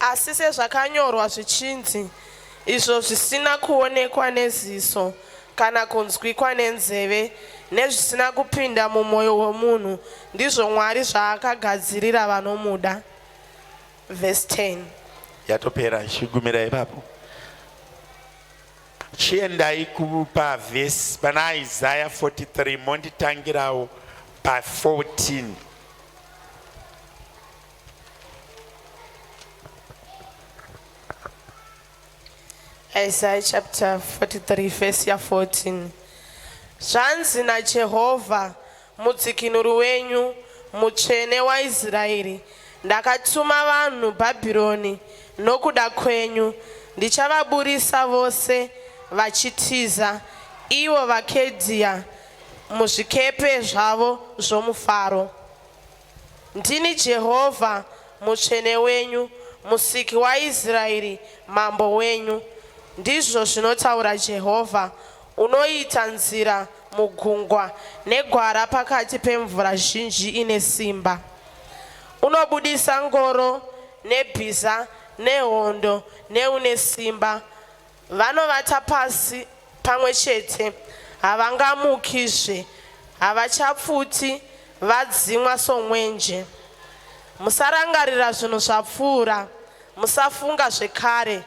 Asi sezvakanyorwa zvichinzi, Izvo zvisina kuonekwa neziso, kana kunzwikwa nenzeve, nezvisina kupinda mumwoyo womunhu, ndizvo Mwari zvaakagadzirira vanomuda. Verse 10. yatopera chigumira ipapo chiendai kupa vhesi pana isaya 43 monditangirawo pa 14 Isaiah chapter 43 verse ya 14 zvanzi najehovha mudzikinuri wenyu mutsvene waisraeri ndakatuma vanhu bhabhironi nokuda kwenyu ndichavaburisa vose vachitiza ivo vakedhiya muzvikepe zvavo zvomufaro Ndini Jehovha, Mutsvene wenyu, Musiki waIsraeri, Mambo wenyu, ndizvo zvinotaura Jehovha, unoita nzira mugungwa negwara pakati pemvura zhinji ine simba. Unobudisa ngoro nebhiza nehondo neune simba, Vanovata pasi pamwe chete, havangamukizve, havachapfuti, vadzimwa somwenje. Musarangarira zvinhu zvapfuura, musafunga zvekare.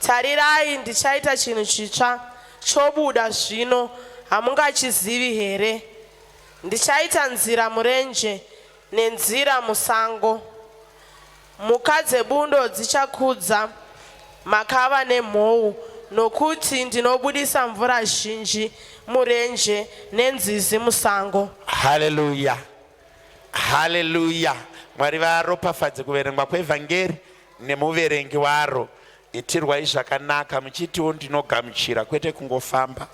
Tarirai, ndichaita chinhu chitsva, chobuda zvino, hamungachizivi here? Ndichaita nzira murenje, nenzira musango. Mhuka dzebundo dzichakudza makava nemhou, nokuti ndinobudisa mvura zhinji murenje nenzizi musango. Haleluya, haleluya. Mwari varopafadze kuverengwa kweVhangeri nemuverengi waro. Itirwai zvakanaka muchitiwo ndinogamuchira kwete kungofamba.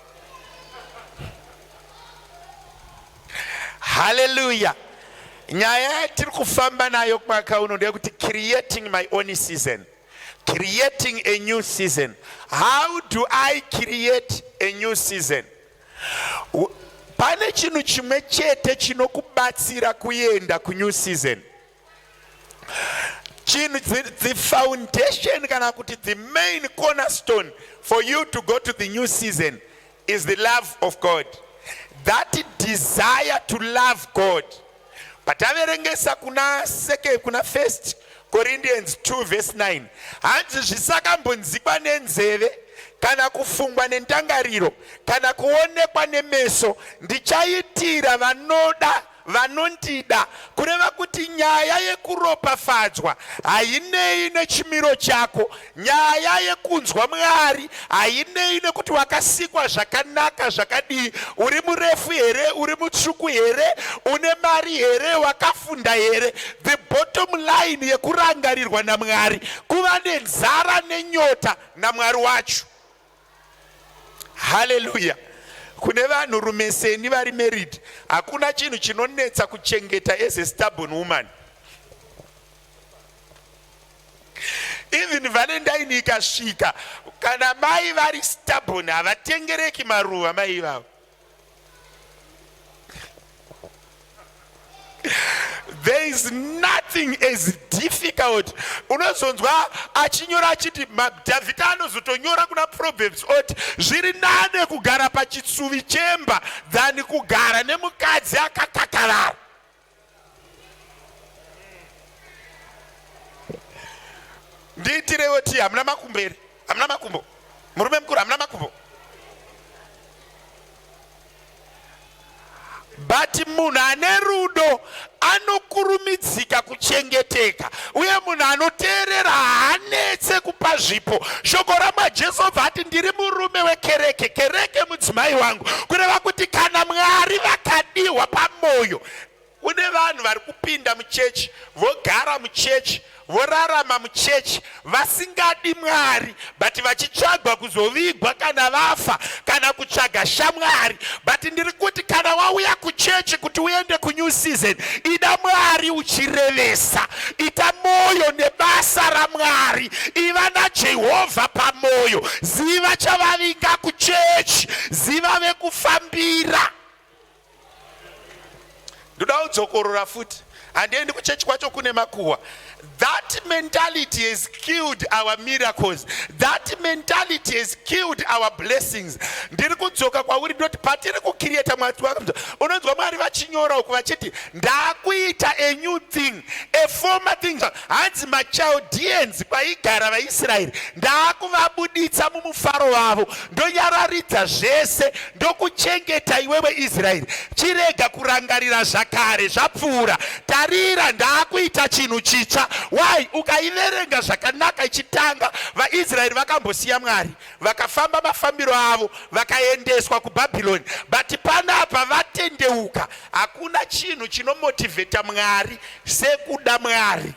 Hallelujah. Nyaya yatiri kufamba nayo mwaka uno ndeyekuti creating my own season. Creating a new season. How do I create a new season? Pane chinhu chimwe chete chinokubatsira kuenda kunew season. chinhu the foundation kana kuti the main cornerstone for you to go to the new season is the love of god that desire to love god pataverengesa kuna second kuna first corinthians 2 verse 9 hanzi zvisakambonzikwa nenzeve kana kufungwa nendangariro kana kuonekwa nemeso ndichaitira vanoda vanondida, kureva kuti nyaya yekuropafadzwa hainei nechimiro chako, nyaya yekunzwa Mwari hainei nekuti wakasikwa zvakanaka zvakadii, uri murefu here, uri mutsvuku here, une mari here, wakafunda here. The bottom line yekurangarirwa naMwari kuva nenzara nenyota naMwari wacho. haleluya kune vanhu rume seni vari married hakuna chinhu chinonetsa kuchengeta as a stubborn woman even valentine ikasvika kana mai vari stubborn havatengereki maruva mai ivavo there is nothing as difficult unozonzwa achinyora achiti dhavhidha anozotonyora kuna proverbs oti zviri nane kugara pachitsuvi chemba than kugara nemukadzi akakakarara ndiitirewo tii hamuna makumbo here hamuna makumbo murume mukuru hamuna makumbo but munhu ane rudo anokurumidzika kuchengeteka uye munhu anoteerera haanetse kupa zvipo shoko ramwajesu obva ati ndiri murume wekereke kereke mudzimai wangu kureva kuti kana mwari vakadihwa pamwoyo kune vanhu vari kupinda muchechi vogara muchechi vorarama muchechi vasingadi mwari but vachitsvagwa kuzovigwa kana vafa kana kutsvaga shamwari but ndiri kuti kana wauya kuchechi kuti uende kunew season ida mwari uchirevesa ita mwoyo nebasa ramwari iva najehovha pamwoyo ziva chavavinga kuchechi ziva vekufambira ndoda kudzokorora futi handiendi kuchechi kwacho kune makuhwa that mentality has killed our miracles that mentality has killed our blessings ndiri kudzoka kwauri ndoti patiri kukiriyeta mwari unonzwa mwari vachinyora uku vachiti ndakuita a new thing a former thing Hanzi maChaldeans kwaigara vaIsraeri, ndaakuvabuditsa mumufaro wavo, ndonyararidza zvese, ndokuchengeta iwewe Israeri. Chirega kurangarira zvakare zvapfuura, tarira, ndaakuita chinhu chitsva. Why? Ukaiverenga zvakanaka ichitanga, vaIsraeri vakambosiya Mwari. Vakafamba mafambiro avo vakaendeswa kuBhabhironi, but panapa vatendeuka. Hakuna chinhu chinomotivheta Mwari sekuda Mwari.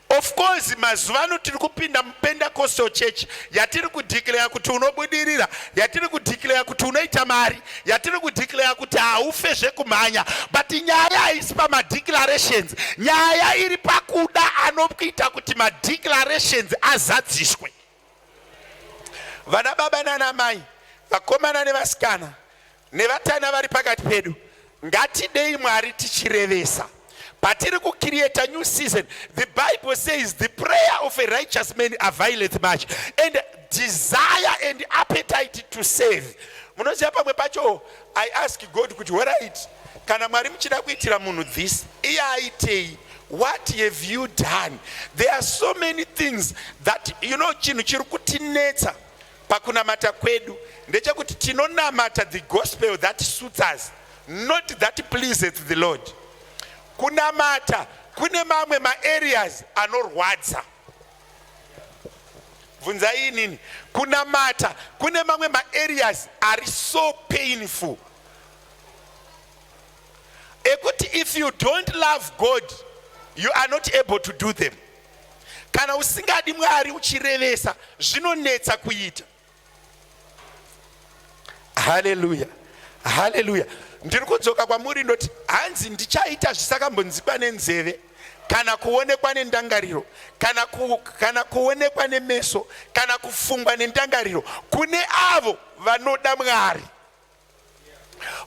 Of course mazuva ano tiri kupinda muPentecostal church yatiri kudeclare kuti unobudirira, yatiri kudeclare kuti unoita mari, yatiri kudeclare kuti haufe zvekumhanya, but nyaya haisi pamadeclarations. Nyaya iri pakuda anokuita kuti madeclarations azadziswe. vana baba nana mai vakomana nevasikana nevatana vari pakati pedu ngatidei mwari tichirevesa patiri kucreata new season the bible says the prayer of a righteous man availeth much and desire and appetite to save munoziva pamwe pacho i ask god kuti horit kana mwari muchida kuitira munhu this iye aitei What have you done? There are so many things that you know chinhu chiri kutinetsa pakunamata kwedu ndechekuti tinonamata the gospel that suits us not that pleases the Lord. Kunamata kune mamwe maareas anorwadza bvunzai inini kunamata kune mamwe maareas ari so painful ekuti if you don't love god you are not able to do them kana usingadi mwari uchirevesa zvinonetsa kuita haleluya haleluya ndiri kudzoka kwamuri ndoti hanzi ndichaita zvisakambonzikwa nenzeve kana kuonekwa nendangariro kana, ku, kana kuonekwa nemeso kana kufungwa nendangariro kune avo vanoda mwari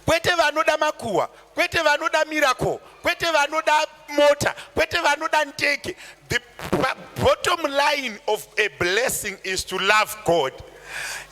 kwete vanoda makuhwa kwete vanoda miracle kwete vanoda mota kwete vanoda ndege the bottom line of a blessing is to love god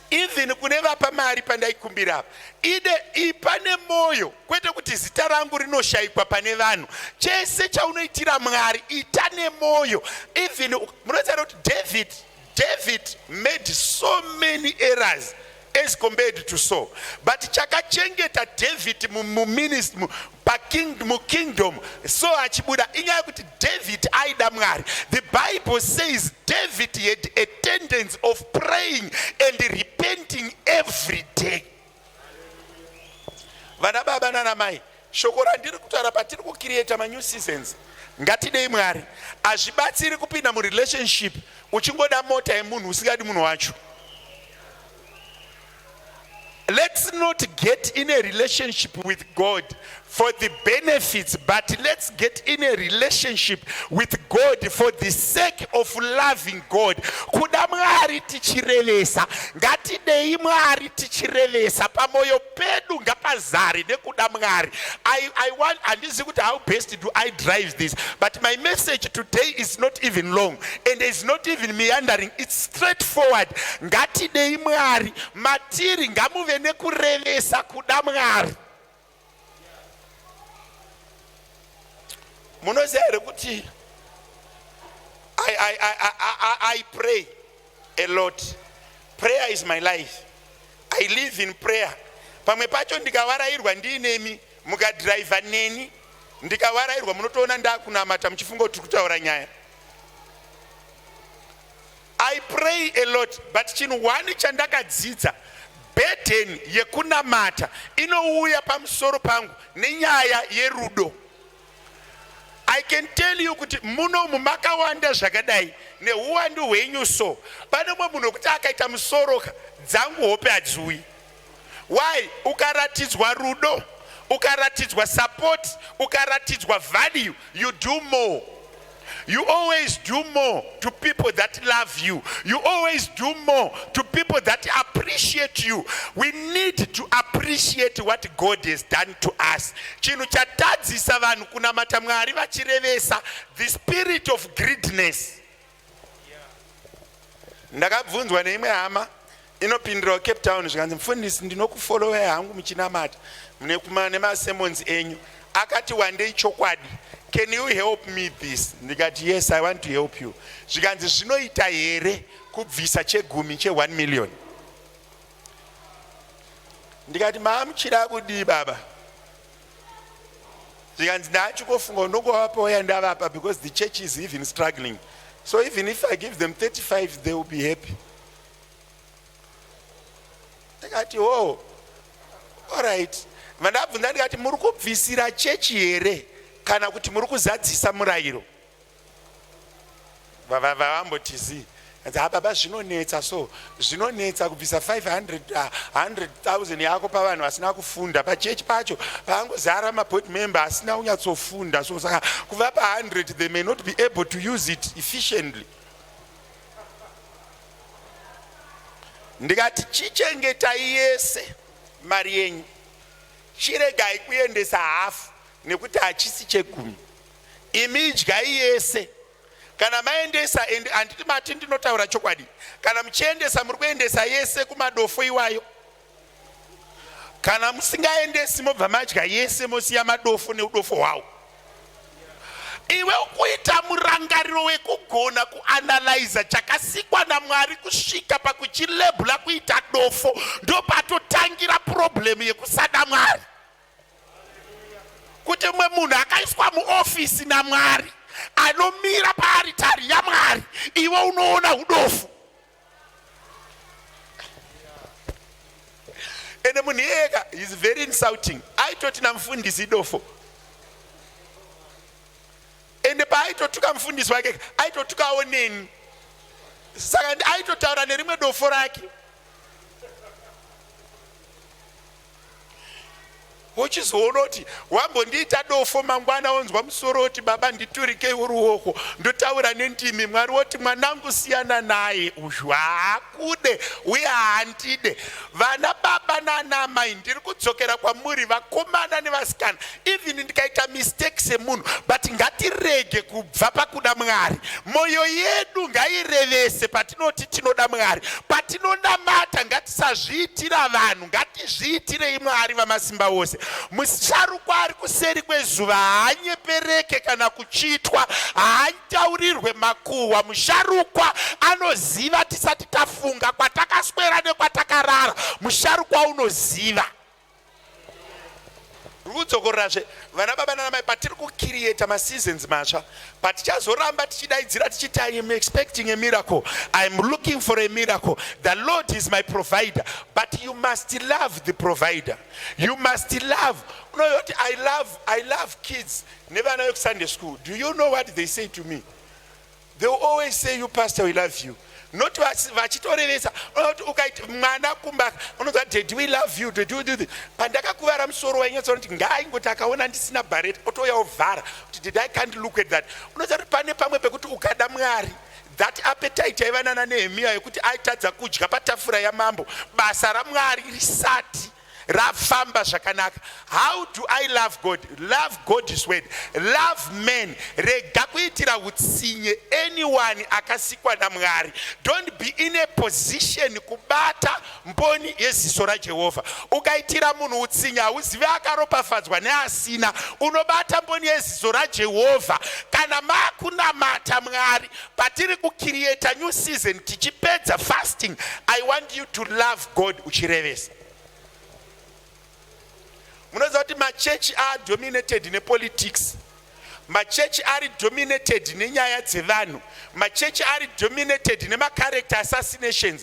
even kune vapa mari pandaikumbira apa ide ipa nemwoyo kwete kuti zita rangu rinoshayikwa pane vanhu chese chaunoitira mwari ita nemwoyo even munoziva kuti david David made so many errors as compared to Saul. But chakachengeta David muministry paking mukingdom so achibuda inyaya yekuti David aida Mwari. The Bible says David had a tendency of praying and repenting every day. Vana baba nana mai Shoko randiri kutaura patiri ku create ma new seasons ngatidei Mwari. Hazvibatsiri kupinda mu relationship uchingoda mota yemunhu usingadi munhu wacho. Let's not get in a relationship with God for the benefits, but let's get in a relationship with God for the sake of loving God. Kuda Mwari tichirevesa, ngatidei Mwari tichirevesa pamoyo pedu ngapazare nekuda mwari I, I want handizivi kuti how best do i drive this but my message today is not even long and is not even meandering its straight forward ngatidei mwari matiri ngamuve nekurevesa kuda mwari munoziva here kuti I, I, I, I, I, I pray a lot prayer is my life i live in prayer pamwe pacho ndikavarairwa ndiinemi mukadhiraivha neni ndikavarairwa munotoona ndakunamata muchifunga kuti tiri kutaura nyaya i pray a lot but chinhu one chandakadzidza bedhen yekunamata inouya pamusoro pangu nenyaya yerudo I can tell you kuti munomu makawanda zvakadai nehuwandu hwenyu so pane mumwe munhu wekuti akaita musoro dzangu hope hadziuyi why ukaratidzwa rudo ukaratidzwa support ukaratidzwa value you do more You always do more to people that love you. You always do more to people that appreciate you. We need to appreciate what God has done to us. Chinhu chatadzisa vanhu kunamata Mwari vachirevesa the spirit of greediness. Ndakabvunzwa neimwe hama inopindirawo cape town zvikanzi mufundisi ndinokufolowai hangu muchinamata mune kuma nemasemons enyu akati wandei chokwadi can you help me this ndikati yes i want to help you zvikanzi zvinoita here kubvisa chegumi che1 million ndikati maamuchira kudii baba zvikanzi ndaachikofunga unongovapawo yandavapa because the church is even struggling so even if i give them 35 they will be happy ndikati hoo orit vandabvunza ndikati muri kubvisira chechi here kana kuti muri kuzadzisa murayiro vavamboti zii ha baba zvinonetsa so zvinonetsa kubvisa 500000 yako pavanhu vasina kufunda pachechi pacho paangozara maboard member asina kunyatsofunda so saka kuvapa 100 they may not be able to use it efficiently ndikati chichengetai yese mari yenyu chiregai kuendesa hafu nekuti hachisi chegumi imi idyai yese kana maendesa and handiti mati ndinotaura chokwadi kana muchiendesa muri kuendesa yese kumadofo iwayo kana musingaendesi mobva madya yese mosiya madofo neudofo hwawo iwe ukuita murangariro wekugona kuanalyza chakasikwa namwari kusvika pakuchilebula kuita dofo ndopatotangira purobhuremu yekusada mwari kuti mumwe munhu akaiswa muofisi namwari anomira paaritari yamwari iwe unoona udofu ende munhu iyeka is very insulting aitoti namufundisi idofo ende paaitotuka mufundisi wake aitotukawo neni saka aitotaura nerimwe dofo rake wochizoona kuti wambondiita dofo mangwana wonzwa musoro woti baba nditurikei uruoko ndotaura nendimi mwari woti mwanangu siyana naye uyu haakude uye haandide vana baba nana amai ndiri kudzokera kwamuri vakomana nevasikana even ndikaita mistake semunhu but ngatirege kubva pakuda mwari mwoyo yedu ngairevese patinoti tinoda mwari patinonamata ngatisazviitira vanhu ngatizviitirei mwari vamasimba ose musharukwa ari kuseri kwezuva haanyepereke kana kuchitwa haataurirwe makuhwa musharukwa anoziva tisati tafunga kwatakaswera nekwatakarara musharukwa unoziva kudzokorerazve vana baba nana mai patiri kucreata maseasons matsva patichazoramba tichidaidzira tichiti i am expecting a miracle i am looking for a miracle the lord is my provider but you must love the provider you must love unoyoti i love i love kids nevana vekusunday school do you know what they say to me They will always say you pastor we love you not vachitorevesa unoti ukaita mwana kumba unonzwa daddy we love you daddy we do this pandakakuvara musoro wainyatsa kuti ngaaingoti akaona ndisina bareta otouya ovhara kuti did i can't look at that unoziva kuti pane pamwe pekuti ukada mwari that appetite yaiva nana nehemiya yekuti aitadza kudya patafura yamambo basa ramwari risati rafamba zvakanaka how do i love god love god is word love man rega kuitira utsinye anyone akasikwa namwari don't be in a position kubata mboni yeziso rajehovha ukaitira munhu utsinye hauzive akaropafadzwa neasina unobata mboni yeziso rajehovha kana makunamata mwari patiri kucreata new season tichipedza fasting i want you to love god uchirevesa munoziva kuti machechi adominated nepolitics machechi ari dominated nenyaya dzevanhu machechi ari dominated nemacharacter assassinations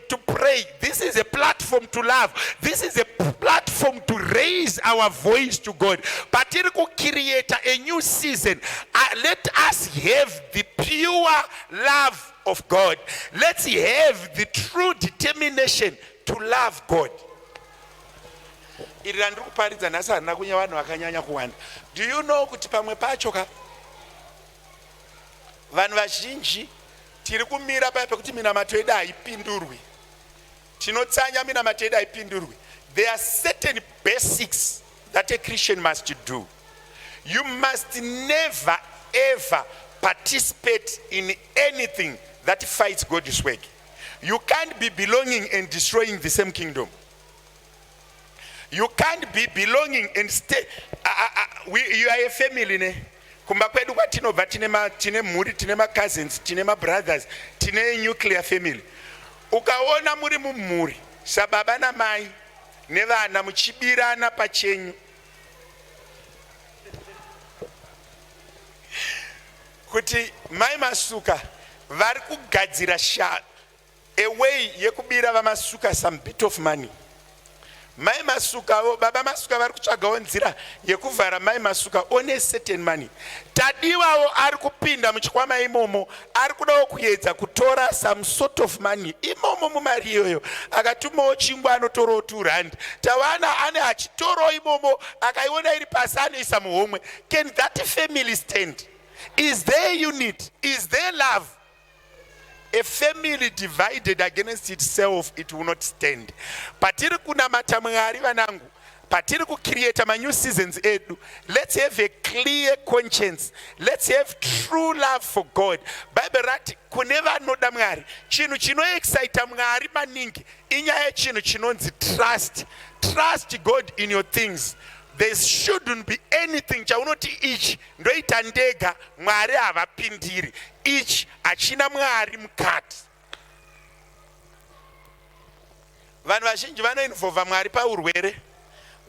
to pray. This is a platform to love. This is a platform to raise our voice to God. But it could create a new season. Uh, let us have the pure love of God. Let's have the true determination to love God. iri randiri kuparidza nhasi harina kunya vanhu vakanyanya kuwanda do you know kuti pamwe pacho ka vanhu vazhinji Tiri kumira paya pekuti minamato yedu haipindurwi. Tinotsanya minamato yedu haipindurwi. There are certain basics that a Christian must do. You must never ever participate in anything that fights God's work. You can't be belonging and destroying the same kingdom. you can't be belonging and stay uh, uh, uh, we, you are a family ne kumba kwedu kwatinobva tine, ma, tine mhuri tine macousins tine mabrothers tine nuclear family ukaona muri mumhuri sababa namai nevana muchibirana pachenyu kuti mai masuka vari kugadzira sha a way yekubira vamasuka some bit of money mai masukavo baba masuka vari kutsvagawo nzira yekuvhara mai masuka one certain money tadiwawo ari kupinda muchikwama imomo ari kudawo kuyedza kutora some sort of money imomo mumari iyoyo akatumawo chingwa anotorawo two rand tawana ane achitorawo imomo akaiona iri pasi anoisa muhomwe can that family stand is there unit is there love a family divided against itself it will not stand patiri kunamata mwari vanangu patiri kucreata manew seasons edu let's have a clear conscience let's have true love for god bible rati kune vanoda mwari chinhu chinoexcita mwari maningi inyaya yechinhu chinonzi trust trust god in your things there shouldn't be anything chaunoti ichi ndoita ndega mwari havapindiri ichi hachina mwari mukati vanhu vazhinji vanoinvova mwari paurwere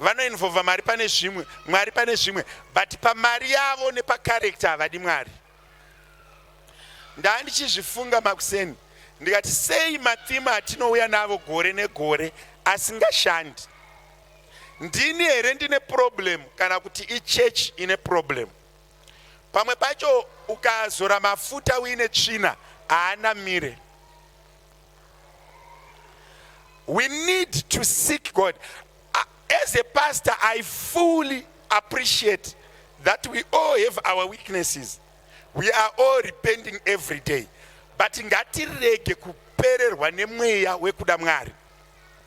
vanoinvova mari pane zvimwe mwari pane zvimwe but pamari yavo nepakarekta havadi mwari ndaa ndichizvifunga makuseni ndikati sei matima atinouya navo gore negore asingashandi ndini here ndine problem kana kuti ichechi ine problem pamwe pacho ukazora mafuta uine tsvina haana mire we need to seek god as a pastor i fully appreciate that we all have our weaknesses we are all repenting every day but ngatirege kupererwa nemweya wekuda mwari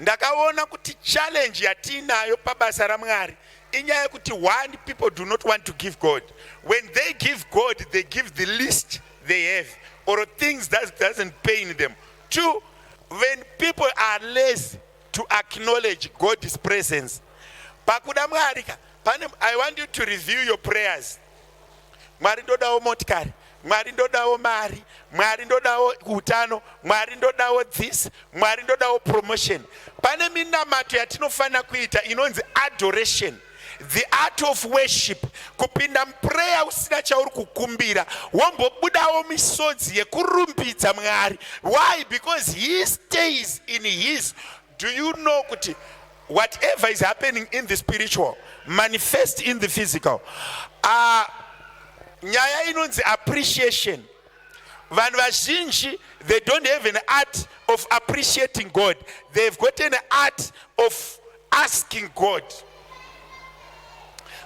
ndakaona kuti challenge yatiinayo pabasa ramwari inyaya yekuti one people do not want to give god when they give god they give the least they have or things that doesn't pain them two when people are lazy to acknowledge god's presence pakuda mwari ka pane i want you to review your prayers mwari ndodawo motikari mwari ndodawo mari mwari ndodawo utano mwari ndodawo this mwari ndodawo promotion pane minamato yatinofanira kuita inonzi adoration the art of worship kupinda mupreya usina chauri kukumbira wombobudawo misodzi yekurumbidza mwari why because he stays in his Do you know kuti whatever is happening in the spiritual manifest in the physical uh, nyaya inonzi appreciation vanhu vazhinji they don't have an art of appreciating god they have got an art of asking god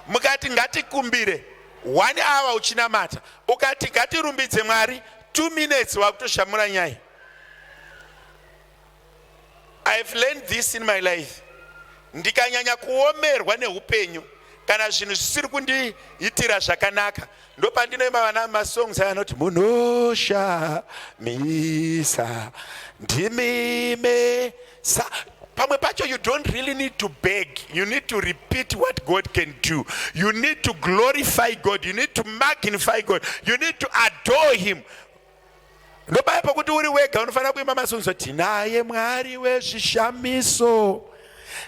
mukati ngatikumbire one hour uchinamata ukati ngatirumbidze mwari two minutes wakutoshamura nyaya I have learned this in my life. Ndikanyanya kuomerwa neupenyu kana zvinhu zvisiri kundiitira zvakanaka ndopandinoima vana masongs aya anoti munoshamisa ndimime sa pamwe pacho you don't really need to beg you need to repeat what god can do you need to glorify god you need to magnify god you need to adore him ndopaya pokuti uri wega unofanira kuimba masunzo tinaye mwari wezvishamiso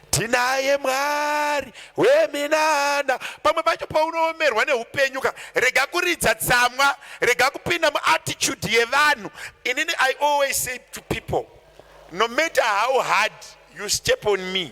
tinaye mwari weminana pamwe pacho paunoomerwa neupenyu ka rega kuridza tsamwa rega kupinda muattitude yevanhu inini i always say to people no matter how hard you step on me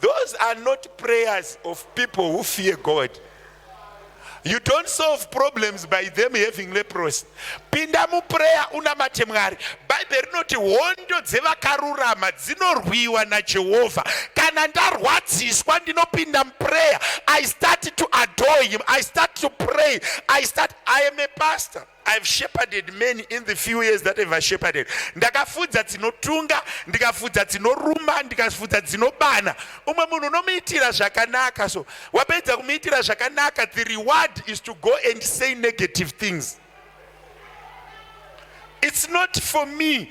Those are not prayers of people who fear God. You don't solve problems by them having leprosy. Pinda muprayer unamate Mwari. Bible rinoti hondo dzevakarurama dzinorwiwa naJehovha. Kana ndarwadziswa ndinopinda muprayer. I start to adore him. I start to pray. I start I am a pastor. I've shepherded many in the few years that I've shepherded. Ndakafudza dzinotunga, ndikafudza dzinoruma, ndikafudza dzinobana. Umwe munhu unomuitira zvakanaka so wapedza kumuitira zvakanaka the reward is to go and say negative things. It's not for me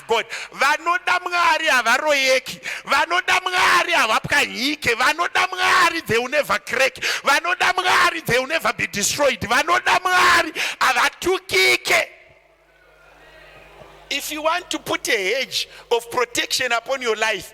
God vanoda mwari havaroyeki vanoda mwari havapwanyike vanoda mwari they will never crack vanoda mwari they will never be destroyed vanoda mwari havatukike if you want to put a hedge of protection upon your life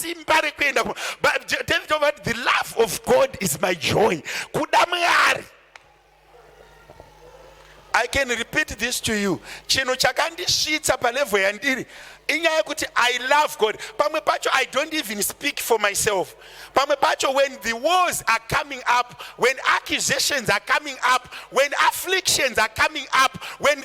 simba rekuenda david jehova the love of god is my joy kuda mwari i can repeat this to you chinhu chakandisvitsa palevho yandiri inyaya yekuti i love god pamwe pacho i don't even speak for myself pamwe pacho when the wars are coming up when accusations are coming up when afflictions are coming up when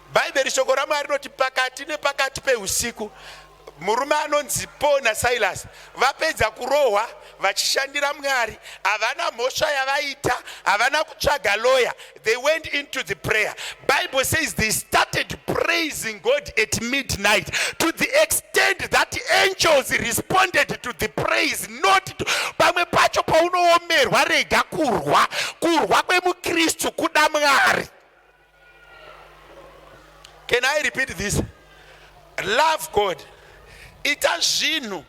Bhaibheri shoko raMwari rinoti pakati nepakati peusiku murume anonzi Paul naSilas vapedza kurohwa vachishandira Mwari, havana mhosva yavaita, havana kutsvaga lawyer, they went into the prayer. Bible says they started praising God at midnight to the extent that angels responded to the praise not to pamwe pacho paunoomerwa rega kurwa kurwa kwemukristu kuda Mwari. Can I repeat this? Love God. Ita zvinhu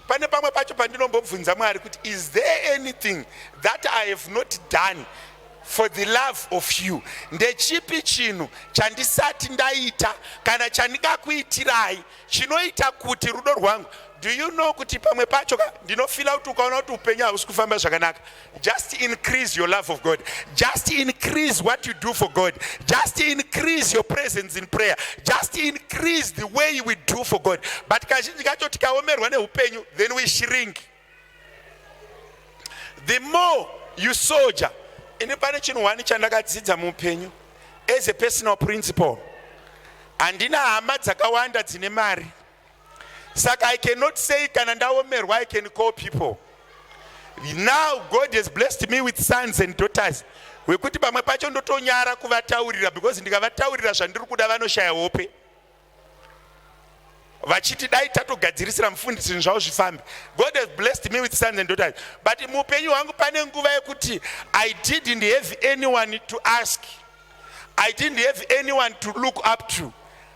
pane pamwe pacho pandinombobvunza mwari kuti is there anything that i have not done for the love of you ndechipi chinhu chandisati ndaita kana chandingakuitirai chinoita kuti rudo rwangu do you know kuti pamwe pacho ndinofila kuti ukaona kuti upenyu hausi kufamba zvakanaka Just increase your love of God. Just increase what you do for God. Just increase your presence in prayer. Just increase the way we do for God. But kazhinji kacho tikaomerwa neupenyu then we shrink. The more you soldier, ini pane chinhu wani chandakadzidza muupenyu as a personal principle. Handina hama dzakawanda dzine mari. saka i cannot say kana ndaomerwa i can call people now god has blessed me with sons and daughters wekuti pamwe pacho ndotonyara kuvataurira because ndikavataurira zvandiri kuda vanoshaya hope vachiti dai tatogadzirisira mufundisi zvinhu zvavo zvifambe god has blessed me with sons and daughters but muupenyu hwangu pane nguva yekuti i didn't have anyone to ask i didn't have anyone to look up to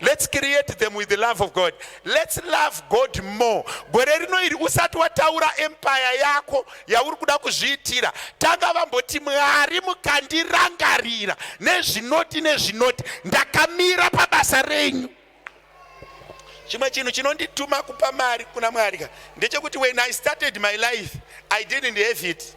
Let's create them with the love of God. Let's love God more. Gore rino iri usati wataura empire yako yauri kuda kuzviitira, tanga vamboti Mwari mukandirangarira nezvinoti nezvinoti, ndakamira pabasa renyu. Chimwe chinhu chinondituma kupa mari kuna Mwari ka ndechekuti when I started my life I didn't have it.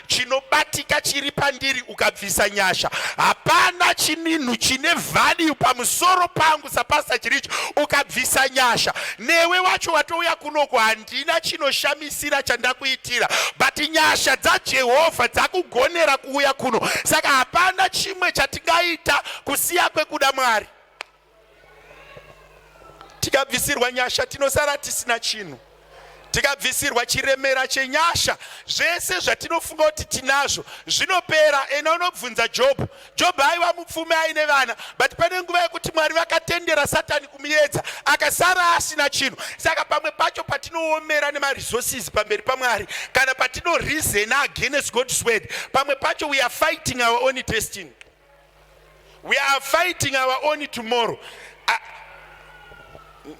chinobatika chiri pandiri ukabvisa nyasha hapana chininhu chine value pamusoro pangu sapasta chiricho ukabvisa nyasha newe wacho watouya kunoku handina chinoshamisira chandakuitira but nyasha dzajehovha dzakugonera kuuya kuno saka hapana chimwe chatingaita kusiya kwekuda mwari tikabvisirwa nyasha tinosara tisina chinhu tikabvisirwa chiremera chenyasha zvese zvatinofunga kuti tinazvo zvinopera ena unobvunza jobho jobho aiva mupfumi aine vana but pane nguva yekuti mwari vakatendera satani kumuyedza akasara asina chinhu saka pamwe pacho patinoomera nemaresources pamberi pamwari kana patinoreasona against god's word pamwe pacho we are fighting our own destiny we are fighting our own tomorrow ah,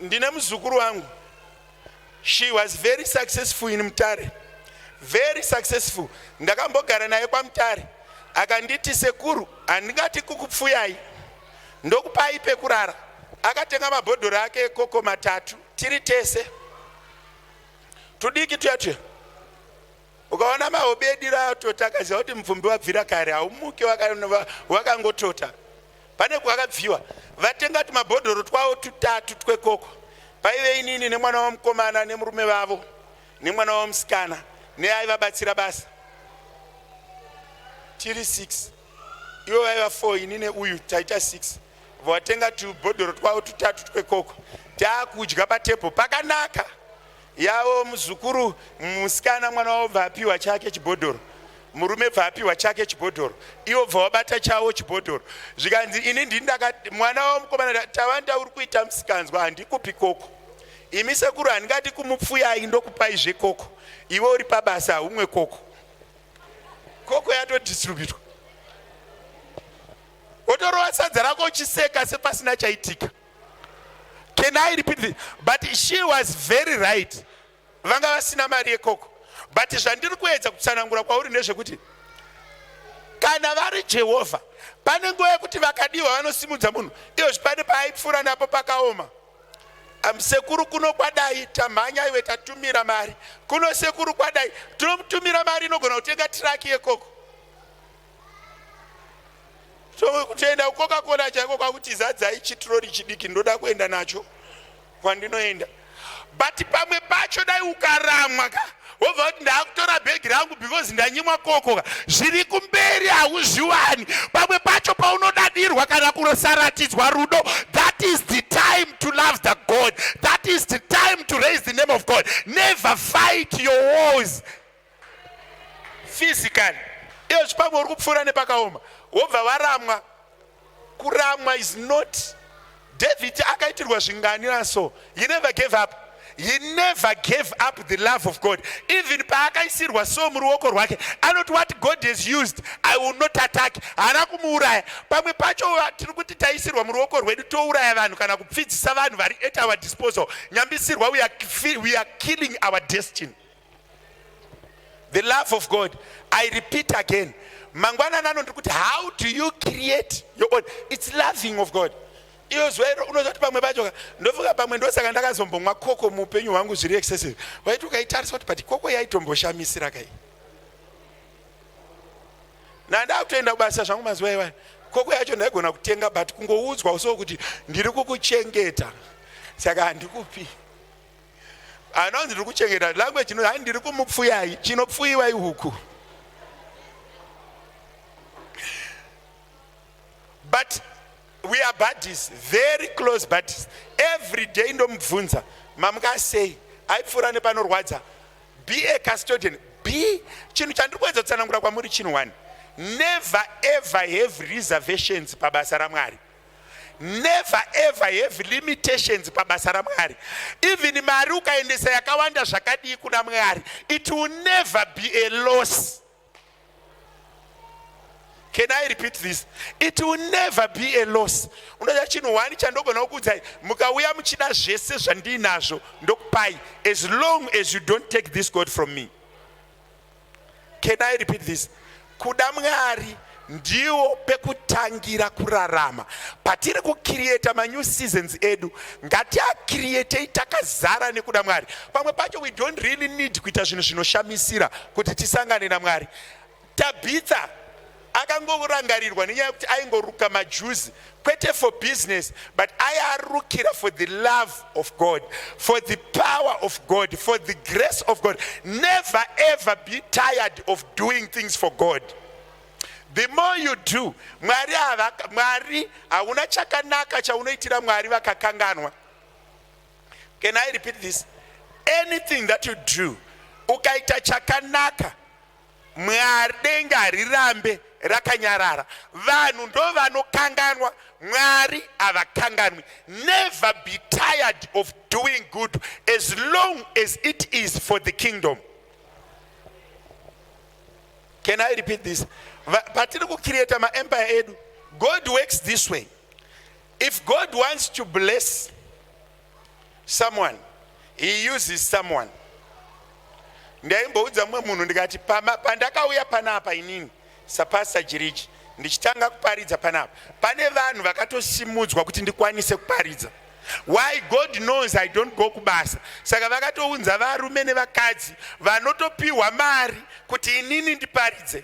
ndine muzukuru wangu she was very successful in mutare very successful ndakambogara naye kwamutare akanditi sekuru handingati kukupfuyai ndokupai pekurara akatenga mabhodhoro ake ekoko matatu tiri tese tudiki tuya tuya ukaona maobedi raatota akaziva kuti mupfumbi wabvira kare haumuki wakangotota pane kwakabviwa vatenga tumabhodhoro twavo tutatu twekoko paive inini nemwana wamukomana nemurume vavo nemwana wamusikana neaivabatsira basa tiri 6 ivo vaiva 4 ini neuyu taita 6 vatenga tubhodhoro twavo tutatu twekoko taakudya patebho pakanaka yavo muzukuru musikana mwana wavo bva apiwa chake chibhodhoro murume bva apiwa chake chibhodhoro ivo bva wabata chavo chibhodhoro zvikanzi ini ndini ndaka mwana wavo mukomana tava ndauri kuita musikanzwa handikupi koko imi sekuru handingati kumupfuyai ndokupai zvekoko ivo uri pabasa haumwe koko koko yatodistributwa wotorova sadza rako uchiseka sepasina chaitika Can I repeat this? But she was very right. Vanga vasina mari yekoko. But zvandiri kuedza kutsanangura kwauri ndezvekuti kana vari Jehovha pane nguva yekuti vakadiwa vanosimudza munhu iyo zvipane paaipfuura napo pakaoma sekuru kuno kwadai tamhanya iwe tatumira mari kuno sekuru kwadai tinomutumira mari inogona kutenga tiraki yekoko so kutoenda kucoca cola chaiko kwakuti zadzai chitirori chidiki ndoda kuenda nacho kwandinoenda but pamwe pacho dai ukaramwa ka wobva kuti ndakutora bhegi rangu because ndanyimwa koko ka zviri kumberi hauzviwani pamwe pacho paunodadirwa kana kurosaratidzwa rudo that is the time to love the god that is the time to raise the name of god never fight your wars physically iyo chipamwe uri kupfuura nepakaoma wobva waramwa kuramwa is not david akaitirwa zvingani naso he never gave up he never gave up the love of god even paakaisirwa so muruoko rwake anoti what god has used i will not attack haana kumuuraya pamwe pacho tiri kuti taisirwa muruoko rwedu touraya vanhu kana kupfidzisa vanhu vari at our disposal nyambisirwa we are, we are killing our destiny the love of god i repeat again mangwana nano ndiri kuti how do you create your own its loving of god iyo zuva iro unozoti pamwe pacho ndofunga pamwe ndosaka ndakazombomwa koko muupenyu hwangu zviri excessive waiti ukaitarisa kuti but koko yaitomboshamisira kai nandakutoenda kubasa zvangu mazuva iwaya koko yacho ndaigona kutenga but kungoudzwa uso kuti ndiri kukuchengeta saka handikupi anonzi ndiri kuchengeta language chino hai ndiri kumupfuyai chinopfuyiwai huku but we are buddies very close buddies every day ndomubvunza mamuka sei aipfuura nepanorwadza be a custodian be chinhu chandiri kuedza kutsanangura kwamuri chinhu one never ever have reservations pabasa ramwari never ever have limitations pabasa ramwari even mari ukaendesa yakawanda zvakadii kuna mwari it will never be a loss can i repeat this it will never be a loss unoda chinhu wani chandogona kukuudzai mukauya muchida zvese zvandiinazvo ndokupai as long as you don't take this god from me Can I repeat this? Kuda Mwari ndiwo pekutangira kurarama. Patiri kucreata manew seasons edu, ngatiacreatei takazara nekuda Mwari. Pamwe pacho we don't really need kuita zvinhu zvinoshamisira kuti tisangane naMwari. Tabitha, Akangorangarirwa nenyaya yekuti aingoruka majuzi kwete for business but ayarukira for the love of God, for the power of God, for the grace of God. Never ever be tired of doing things for God. The more you do, Mwari hava, Mwari hauna chakanaka chaunoitira Mwari vakakanganwa. Can I repeat this? Anything that you do, ukaita chakanaka Mwari denga harirambe rakanyarara vanhu ndovanokanganwa mwari havakanganwi never be tired of doing good as long as it is for the kingdom can i repeat this patiri kucreata maempire edu god works this way if god wants to bless someone he uses someone ndaimboudza mumwe munhu ndikati pandakauya panapa inini sapasta jiriji ndichitanga kuparidza panapa pane vanhu vakatosimudzwa kuti ndikwanise kuparidza why god knows i don't go kubasa saka vakatounza varume nevakadzi vanotopiwa mari kuti inini ndiparidze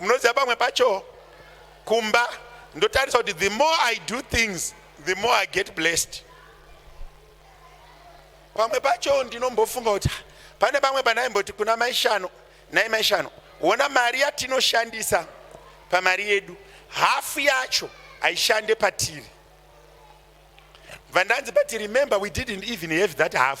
munoziva pamwe pacho kumba ndotarisa kuti the more i do things the more i get blessed pamwe pacho ndinombofunga kuti pane pamwe pandaimboti kuna maishano nai maishano wona mari yatinoshandisa pamari yedu hafu yacho haishande patiri bva ndanzi but remember we didn't even have that half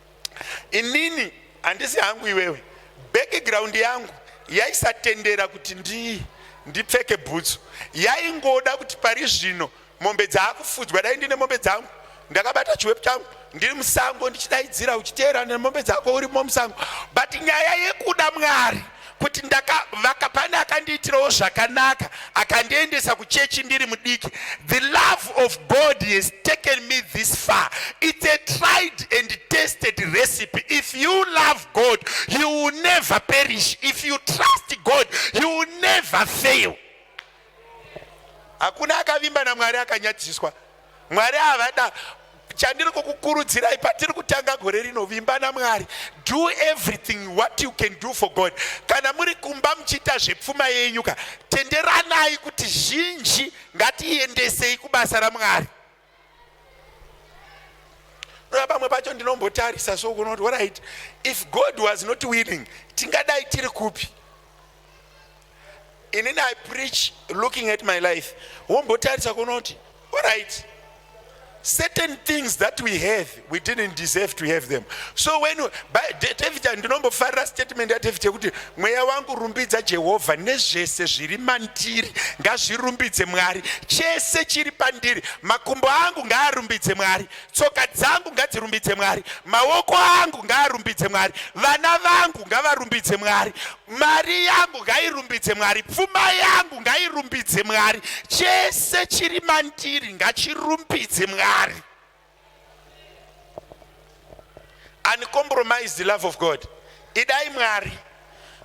inini handisi hangu iwewe background yangu yaisatendera kuti ndi ndipfeke bhutsu yaingoda kuti pari zvino mombe dzaakufudzwa dai ndine mombe dzangu ndakabata chiwepu changu ndiri musango ndichidaidzira uchiteerana nemombe dzako urimo musango but nyaya yekuda mwari kuti ndakavaka pane akandiitirawo zvakanaka akandiendesa kuchechi ndiri mudiki the love of god has taken me this far it's a tried and tested recipe if you love god you will never perish if you trust god you will never fail hakuna akavimba namwari akanyadziswa mwari havada chandiri kukukurudzirai patiri kutanga gore rino vimba namwari do everything what you can do for god kana muri kumba muchiita zvepfuma yenyu ka tenderanai kuti zhinji ngatiendesei kubasa ramwari Rava pamwe pacho ndinombotarisa so kunoti orit if God was not willing tingadai tiri kupi inini i preach looking at my life wombotarisa kunoti orit certain things that we have we didn't deserve to have them so when david ndinombofarira statement yadavid yekuti mweya wangu rumbidza jehovha nezvese zviri mandiri ngazvirumbidze mwari chese chiri pandiri makumbo angu ngaarumbidze mwari tsoka dzangu ngadzirumbidze mwari maoko angu ngaarumbidze mwari vana vangu ngavarumbidze mwari mari yangu ngairumbidze mwari pfuma yangu ngairumbidze mwari chese chiri mandiri ngachirumbidze mwari uncompromised love of God. Idai Mwari.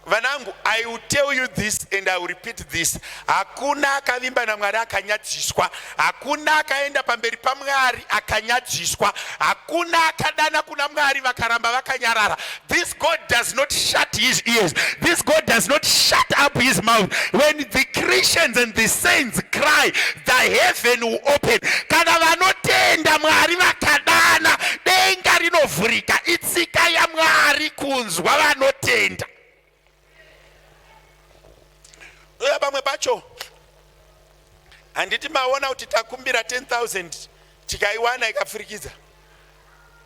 Vanangu, I will tell you this and I will repeat this. Hakuna akavimba na Mwari akanyadziswa. Hakuna akaenda pamberi pa Mwari akanyadziswa. Hakuna akadana kuna Mwari vakaramba vakanyarara. This God does not shut his ears. This God does not shut up his mouth. When the Christians and the saints cry, the heaven will open. Kana vanotenda Mwari vakadana, denga rinovhurika. Itsika yaMwari kunzwa vanotenda. ndoya pamwe pacho handiti maona kuti takumbira 10000 tikaiwana ikapfurikidza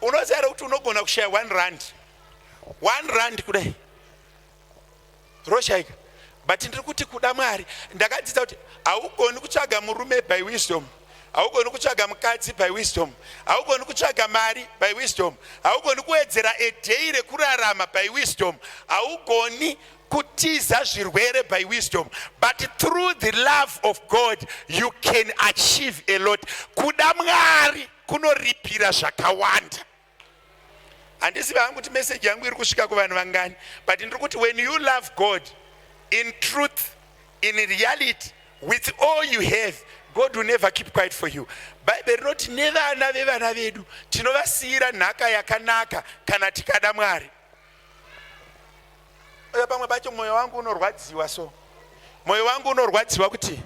unoziva re kuti unogona kushaya 1 rand 1 rand kudai roshaika but ndiri kuti kuda mwari ndakadzidza kuti haugoni kutsvaga murume by wisdom haugoni kutsvaga mukadzi by wisdom haugoni kutsvaga mari by wisdom haugoni kuwedzera a day rekurarama by wisdom haugoni kutiza zvirwere by wisdom but through the love of god you can achieve a lot kuda mwari kunoripira zvakawanda handizivi hangu kuti meseji yangu iri kusvika kuvanhu vangani but ndiri kuti when you love god in truth in reality with all you have god will never keep quiet for you bhaibheri rinoti nevana vevana vedu tinovasiyira nhaka yakanaka kana tikada mwari uyo pamwe pacho mwoyo wangu unorwadziwa so mwoyo wangu unorwadziwa kuti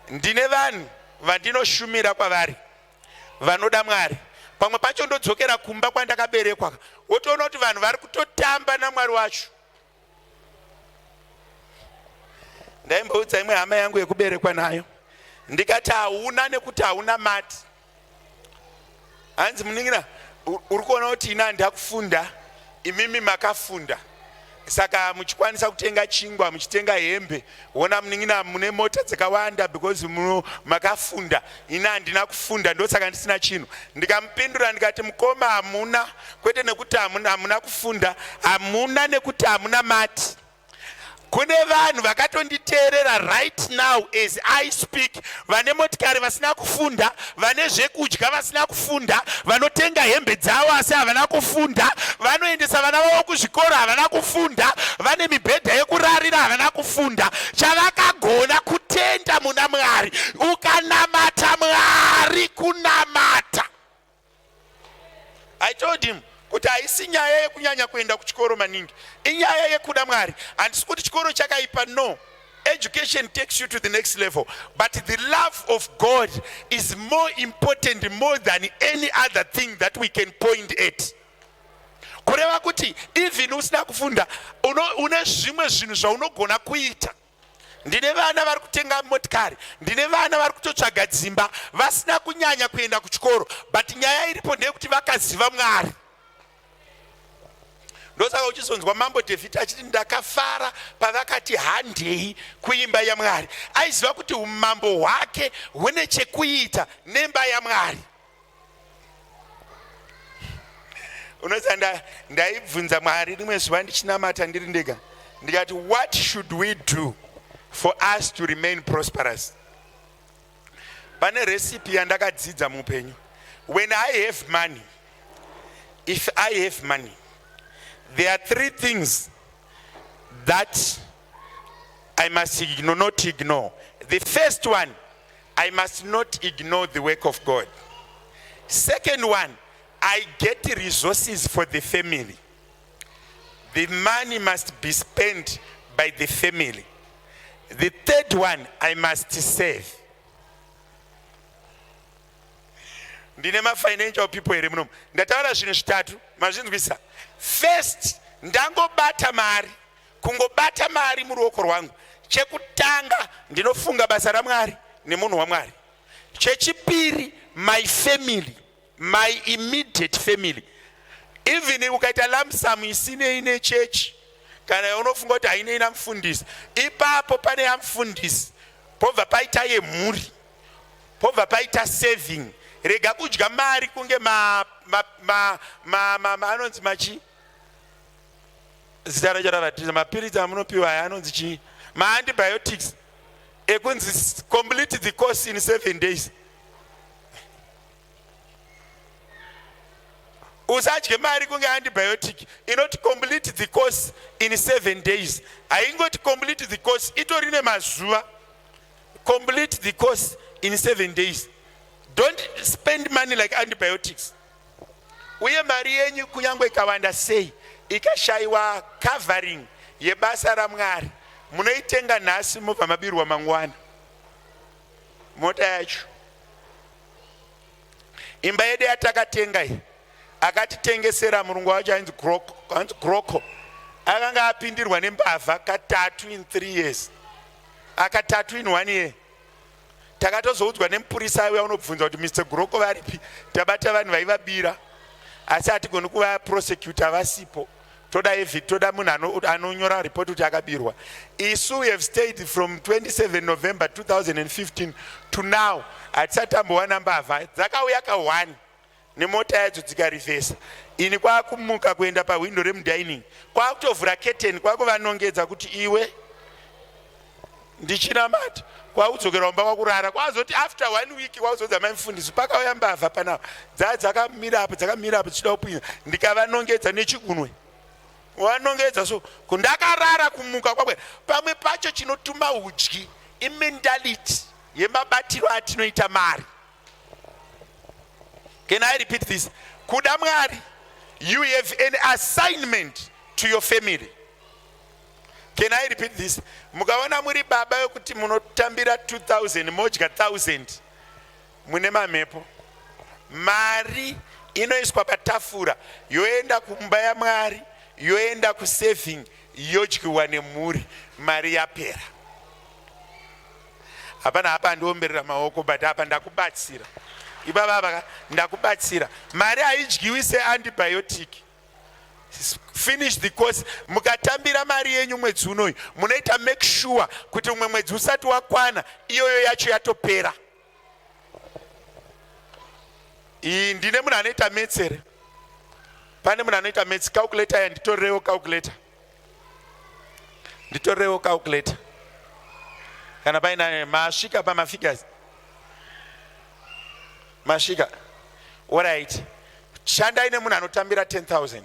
ndine vanhu vandinoshumira kwavari vanoda mwari pamwe pacho ndodzokera kumba kwandakaberekwa wotoona kuti vanhu vari kutotamba namwari wacho ndaimboudza imwe hama yangu yekuberekwa nayo ndikati hauna nekuti hauna mati hanzi muningira uri kuona kuti ini handakufunda imimi makafunda saka muchikwanisa kutenga chingwa muchitenga hembe wona munin'ina mune mota dzakawanda because muno makafunda ini handina kufunda ndosaka ndisina chinhu ndikamupindura ndikati mukoma hamuna kwete nekuti hamuna kufunda hamuna nekuti hamuna mati Kune vanhu vakatonditeerera right now as I speak, vane motikari vasina kufunda, vane zvekudya vasina kufunda, vanotenga hembe dzavo asi havana kufunda, vanoendesa vana vavo kuzvikoro havana kufunda, vane mibhedha yekurarira havana kufunda. Chavakagona kutenda muna Mwari, ukanamata Mwari kunamata I told him kuti haisi nyaya yekunyanya kuenda kuchikoro maningi, inyaya yekuda Mwari. Handisi kuti chikoro chakaipa, no. Education takes you to the next level, but the love of God is more important more than any other thing that we can point at. Kureva kuti even usina kufunda une zvimwe zvinhu zvaunogona kuita ndine vana vari kutenga motikari ndine vana vari kutotsvaga dzimba vasina kunyanya kuenda kuchikoro but nyaya iripo ndeyekuti vakaziva mwari ndosaka uchizonzwa mambo david achiti ndakafara pavakati handei kuimba yamwari aiziva kuti umambo hwake hune chekuita nemba yamwari unoziva nda, ndaibvunza mwari rimwe zuva ndichinamata ndiri ndega ndikati what should we do for us to remain prosperous pane recipe yandakadzidza muupenyu when i have money if i have money there are three things that i must ignore, not ignore the first one I must not ignore the work of God. Second one, I get resources for the family. The money must be spent by the family. The third one, I must save. ndine mafinancial people here munomu ndataura zvinhu zvitatu mazvinzwisa first ndangobata mari kungobata mari muruoko rwangu chekutanga ndinofunga basa ramwari nemunhu wamwari chechipiri my family my immediate family even ukaita lamsamu isinei nechechi kana yaunofunga kuti hainei namfundisi ipapo pane yamfundisi pobva paita yemhuri pobva paita saving rega kudya mari kunge anonzi machi zita racho ravatiza mapiritsi amunopiwa aya anonzi chii maantibiotics ekunzi complete the course in seven days usadye mari kunge antibiotic inoti complete the course in seven days haingoti complete the course itori nemazuva complete the course in seven days don't spend money like antibiotics uye mari yenyu kunyange ikawanda sei ikashaiwa covering yebasa ramwari munoitenga nhasi mobva mabirwa mangwana mota yacho imba yedu yatakatenga iyi akatitengesera murungu wacho ainzi groko akanga apindirwa nembavha katatu in three years akatatu in one year takatozoudzwa nemupurisa aiuya unobvunza kuti mr guroko varipi tabata vanhu vaivabira asi hatigoni kuva prosecutor vasipo toda evid toda munhu anonyora ano report kuti akabirwa isu we have stayed from 27 november 2015 to now hatisati tambowana mbavha dzakauya ka1 nemota yadzo dzikarivhesa ini kwakumuka kuenda pahwindo remudining kwakutovhura keteni kwakuvanongedza kuti iwe ndichinamata kwaudzokera kumba kwakurara kwazoti after one week kwauzodza mai mufundisi pakauya mbavha pana dzaa dzakamira apo dzakamira apo dzichida kupinza ndikavanongedza nechigunwe wanongedza so kundakarara kumuka kwakwe pamwe pacho chinotuma udyi imentality yemabatiro atinoita mari Can I repeat this? Kuda Mwari, you have an assignment to your family. Can I repeat this? Mukaona muri baba yokuti munotambira 2000 modya 1000 mune mamhepo. Mari inoiswa patafura yoenda kumba yaMwari, yoenda kusaving yodyiwa nemhuri, mari yapera. hapana apa andiomberera maoko but apa ndakubatsira ibaba ndakubatsira mari haidyiwi seantibiotic finish the course mukatambira mari yenyu mwedzi unoyu munoita make sure kuti umwe mwedzi usati wakwana iyoyo yacho yatopera iyi ndine munhu anoita metsere pane munhu anoita metsi calculator yanditorewo calculator nditorewo calculator kana painayo masvika pamafigures masvika orit shandai nemunhu anotambira 10000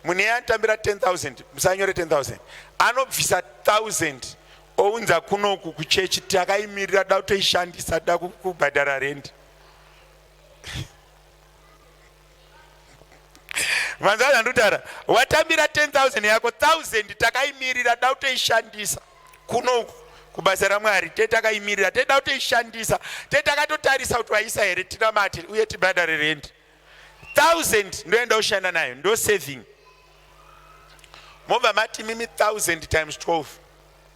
munhu iye anotambira 10000 musanyore 10000 anobvisa 1000 ounza kunoku kuchechi takaimirira da kutoishandisa da kubhadhara rendi vanzwa zvandutaura watambira 10000 yako 1000 takaimirira da kutoishandisa kuno uku kubasa ramwari te takaimirira te da kutoishandisa te takatotarisa kuti waisa here tinamate uye tibhadhare rendi 1000 ndoenda kushanda nayo ndo saving mobva mati mimi 1000 times 12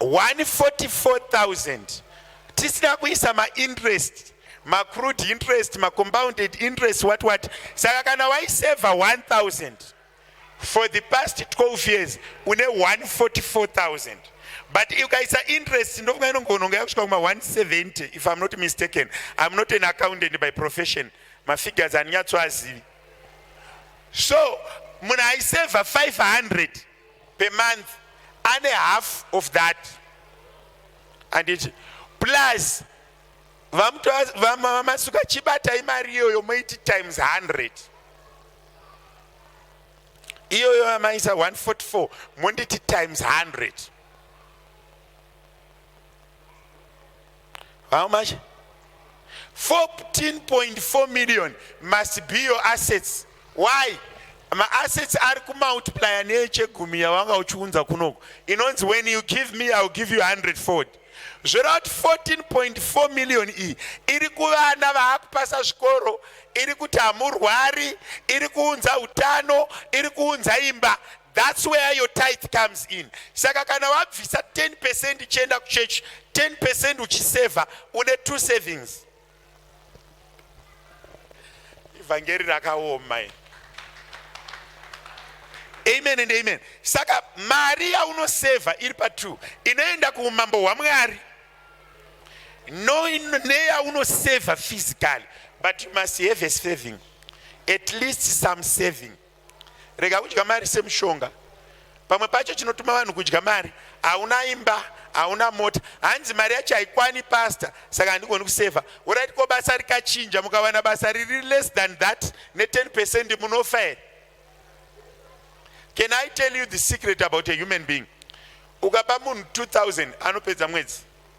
144,000 tisina kuisa mainterest macrude interest macompounded interest what what saka kana waiseva 1000 for the past 12 years une 144000 but ukaisa interest ndofunga inongononga yakusvika kuma 170 if i'm not mistaken i'm not an accountant by profession mafigures andinyatsoazivi so munhu aiseva 500 per month ane half of that anditi plus vamamasuka chibatai mari iyoyo moiti times 100 iyoyo amaisa 144 monditi times 100 How much? 14.4 million must be your assets. Why? ma assets ari kumultiplier neechegumi yawanga uchiunza kunoko inonzi when you give me iwill give you 100 ford zvoreva kuti 14.4 million iyi iri kuvana vaakupasa zvikoro iri kuti hamurwari iri kuunza utano iri kuunza imba That's where your tithe comes in. Saka kana wabvisa 10% ichienda kuchurch, 10% uchiseva, une two savings. Evangeri rakaoma iri. Amen and amen. Saka mari yaunoseva iri pa two inoenda kuumambo hwaMwari no neyaunoseva physically but you must have a saving at least some saving Rega kudya mari semushonga. Pamwe pacho chinotuma vanhu kudya mari, hauna imba, hauna mota, hanzi mari yacho haikwani pastor, saka handigoni kusevha. Urit ko basa rikachinja, mukawana basa riri less than that ne10 percent munofa here? Can I tell you the secret about a human being? Ukapa munhu 2000 anopedza mwedzi.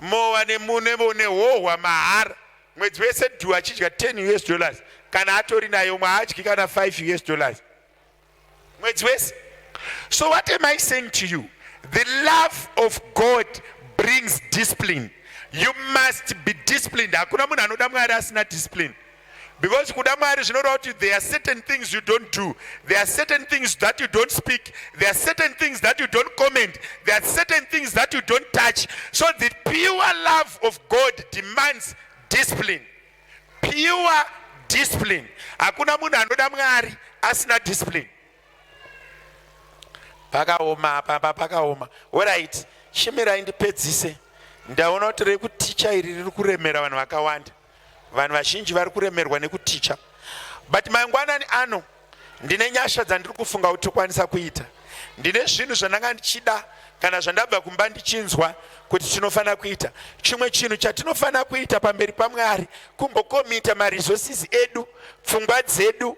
mowa nehohwa mahara mwedzi wese du achidya 10 us dollars kana atori nayo umwe haadyi kana 5 us dollars mwedzi wese so what am i saying to you the love of god brings discipline you must be disciplined hakuna munhu anoda mwari asina discipline because kuda mwari zvinoreva kuti there are certain things you don't do there are certain things that you don't speak there are certain things that you don't comment there are certain things that you don't touch so the pure love of god demands discipline pure discipline hakuna munhu anoda mwari asina discipline pakaoma apa apa pakaoma orit shimirai ndipedzise ndaona kuti rekuticha iri riri kuremera vanhu vakawanda vanhu vazhinji vari kuremerwa nekuticha but mangwanani ano ndine nyasha dzandiri kufunga kuti tokwanisa kuita ndine zvinhu zvandanga ndichida kana zvandabva kumba ndichinzwa kuti tinofanira kuita chimwe chinhu chatinofanira kuita pamberi pamwari kumbokomita maresources edu pfungwa dzedu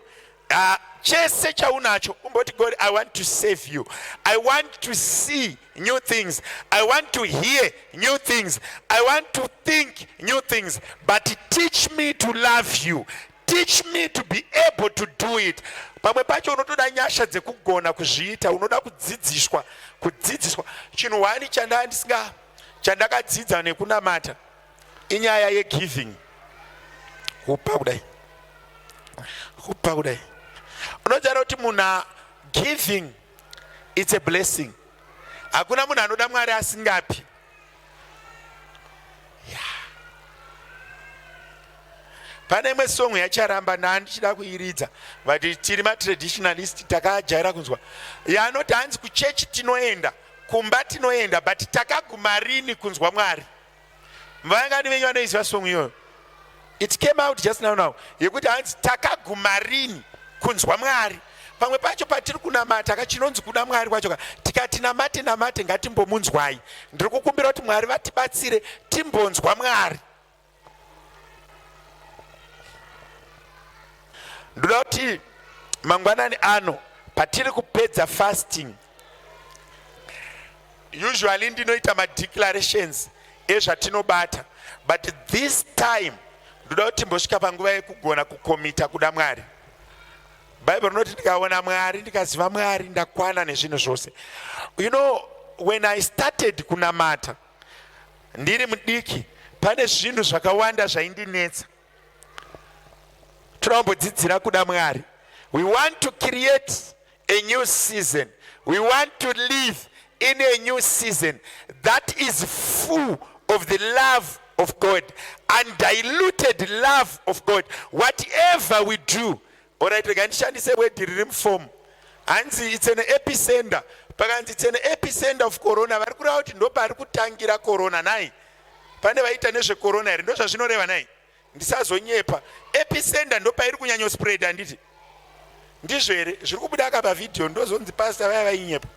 Ah, chese chaunacho umboti god i want to save you i want to see new things i want to hear new things i want to think new things but teach me to love you teach me to be able to do it pamwe pacho unotoda nyasha dzekugona kuzviita unoda kudzidziswa kudzidziswa chinhu hwani chandaa ndisinga chandakadzidza nekunamata inyaya yegiving kupa kudai kupa kudai unotaura kuti munhu giving its a blessing hakuna munhu anoda mwari asingapi pane imwe song yacharamba nani ndichida kuiridza but tiri matraditionalist takajaira kunzwa yanoti hanzi kuchechi tinoenda kumba tinoenda but takaguma rini kunzwa mwari Vangani venyu vanoiziva song iyoyo? It came out just now now yekuti hanzi takaguma rini kunzwa Mwari. Pamwe pacho patiri kunamata ka chinonzi kuda Mwari kwacho ka tikati namate namate ngatimbomunzwai. Ndiri kukumbira kuti Mwari vatibatsire timbonzwa Mwari. Ndoda kuti mangwanani ano patiri kupedza fasting usually ndinoita madeclarations ezvatinobata but this time ndoda kuti mbosvika panguva yekugona kukomita kuda mwari bhaibheri rinoti ndikaona mwari ndikaziva mwari ndakwana nezvinhu zvose you know when i started kunamata ndiri mudiki pane zvinhu zvakawanda zvaindinetsa toda kumbodzidzira kuda mwari we want to create a new season we want to live in a new season that is full of the love of God, undiluted love of God. Whatever we do, all right, ndishandise word riri muform hanzi it's an epicenter pakanzi it's an epicenter of corona vari kureva kuti ndo paari kutangira corona nai pane vaita nezvecorona here ndo zvazvinoreva nai ndisazonyepa episenda ndopairi kunyanyo spread handiti ndizvo here zviri kubuda aka pavhidhiyo ndozonzi pasta vaya vainyepa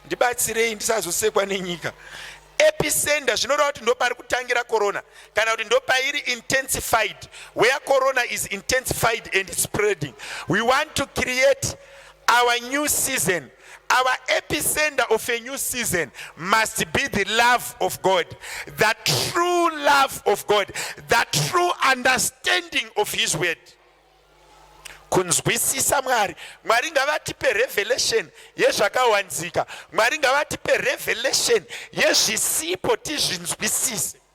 ndibatsirei ndisazosekwa nenyika episenda zvinoreva kuti ndopari kutangira corona kana kuti ndopairi intensified where corona is intensified and spreading we want to create Our new season, our epicenter of a new season must be the love of God, the true love of God, the true understanding of His word. kunzwisisa mwari mwari ngavatipe revelation yezvakawanzika mwari ngavatipe revelation yezvisipo tizvinzwisise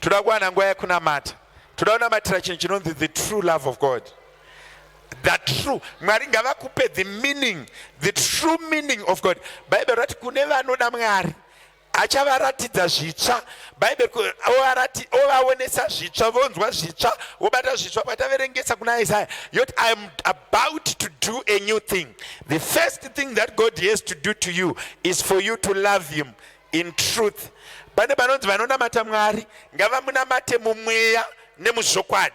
toda kuwana nguva yekunamata toda kunamatira chinhu chinonzi the true love of god the true mwari ngavakupe the meaning the true meaning of god bhaibheri rati kune vanoda mwari achavaratidza zvitsva bhaibheri ovaonesa zvitsva vonzwa zvitsva vobata zvitsva pataverengesa kuna isaya yoti about to do a new thing. The first thing that God has to do to you is for you to love Him in truth. Pane vanonzi vanonamata Mwari ngavamunamate mumweya nemuzvokwadi.